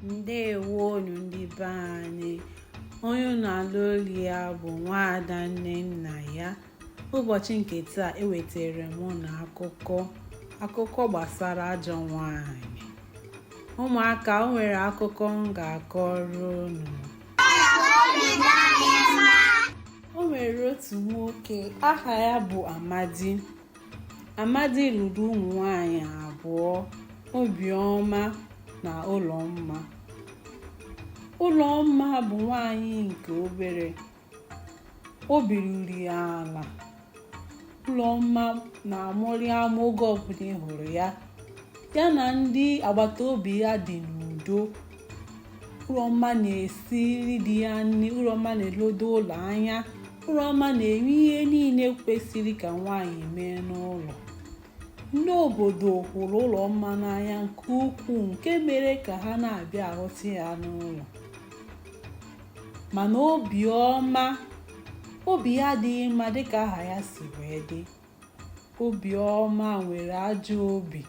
ndewonu ndị be anyị onye unu na-alụ olu ya bụ nwaada nnennaya ụbọchị nke taa ewetara m unu akụkọ akụkọ gbasara ajọ nwanyị ụmụaka o nwere akụkọ m ga-akọrọ unu o nwere otu nwoke aha ya bụ amadi Amadi lụrụ ụmụ nwanyị abụọ, Obiọma na Ụlọmma. Ụlọmma bụ nwanyị nke obere. Obi ruru ala. Ụlọmma na-amụrị amụ oge ọbụla ị hụrụ ya. Ya na ndị agbata obi ya dị n'udo. Ụlọmma na-esiri di ya nri, Ụlọmma na-elodo ụlọ anya. Ụlọmma na-eme ihe niile kwesịrị ka nwaanyị mee n'ụlọ. Ndị obodo hụrụ Ụlọmma n'anya nke ukwuu nke mere ka ha na-abịa ahụta ya n'ụlọ. Mana obiọma, obi ya adịghị mma dịka aha ya si wee dị. Obiọma nwere ajọ obi.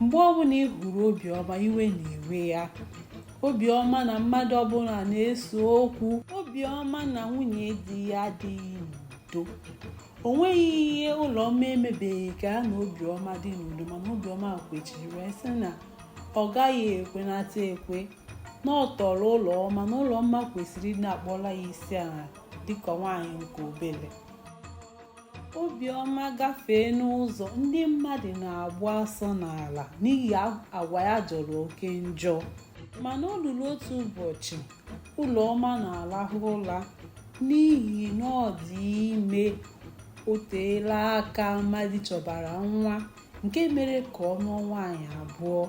Mgbe ọbụla ị hụrụ Obiọma, iwe na-ewe ya. Obiọma na mmadụ ọbụla na-ese okwu. Obiọma na nwunye di ya adịghị n'udo. O nweghị ihe Ụlọmma emebeghị ka ya na Obiọma dị n'udo mana Obiọma kwechiri wee sị na ọ gaghị ekwenata ekwe na ọ tọrọ Ụlọmma na Ụlọmma kwesịrị ịdị na-akpọla ya isi ala dịka nwaanyị nke obere. obiọma gafee n'ụzọ ndị mmadụ na-agbụ asọ n'ala n'ihi agwa ya jọrọ oke njọ mana o ruru otu ụbọchị ụlọmma na-arahụ ụra n'ihi na ọ dị ime o teela aka amadi chọbara nwa nke mere ka ọ lụọ nwaanyị abụọ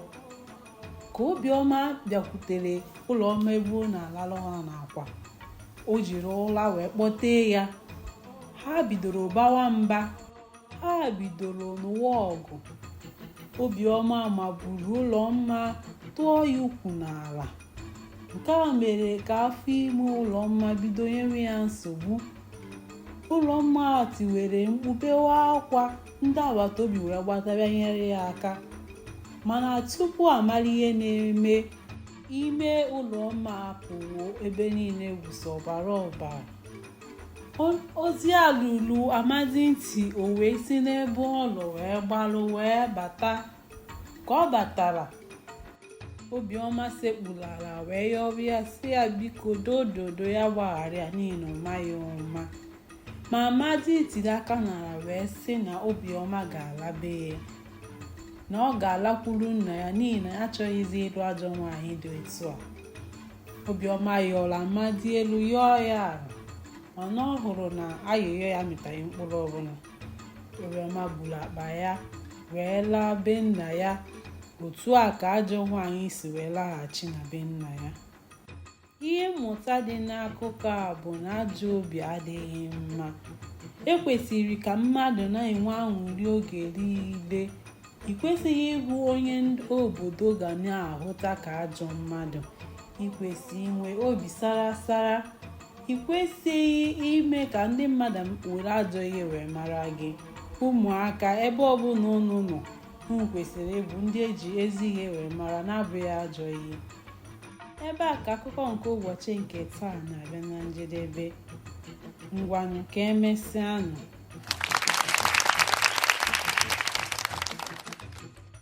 ka obiọma bịakwutere ụlọmma ebe ọ na-alahụ ụla n'akwa o jiri ụla wee kpọtee ya ha bidoro bawa mba ha bidoro nụwa ọgụ obiọma maburu ụlọmma tụọ ya ukwu n'ala nke a mere ka afọ ime ụlọmma bido nyewe ya nsogbu ụlọmma tiwere mkpu bewa akwa ndị agbata obi wee gbata bịa nyere ya aka mana tupu a mara ihe na-eme ime ụlọmma apụwo ebe niile wụsa ọbara ọbara ozi a ruru amadi ntị o wee si n'ebe ọ nọ wee gbalụ wee bata ka ọ batara obiọma sekpuru ala wee yọrọ ya sị ya biko dododo ya gbaghara ya n'ihi na ọ maghị ụma ma amadi tiri aka n'ala wee sị na obiọma ga-ala be ya na ọ ga-alakwuru nna ya n'ihi na ya achọghịzi ịlụ ajọ nwaanyị dị otu a obiọma yọrọ amadi elu yọọ ya ala mana ọ hụrụ na ayịyọ ya mịtaghị mkpụrụ ọbụla obiọma buru akpa ya wee laa be nna ya otu a ka ajọ nwaanyị si wee laghachi na be nna ya ihe mmụta dị n'akụkọ a bụ na ajọ obi adịghị mma e kwesịrị ka mmadụ na-enwe aṅụrị oge niile ị kwesịghị ịbụ onye obodo ga na-ahụta ka ajọ mmadụ ị kwesị inwe obi sara sara ị kwesịghị ime ka ndị mmadụ were ajọ ihe wee mara gị ụmụaka ebe ọbụla unu nọ unu kwesịrị ịbụ ndị eji ezi ihe wee mara na-abụghị ajọ ihe ebe a ka akụkọ nke ụbọchị nke taa na-abịa na njedebe ngwanụ ka emesịanụ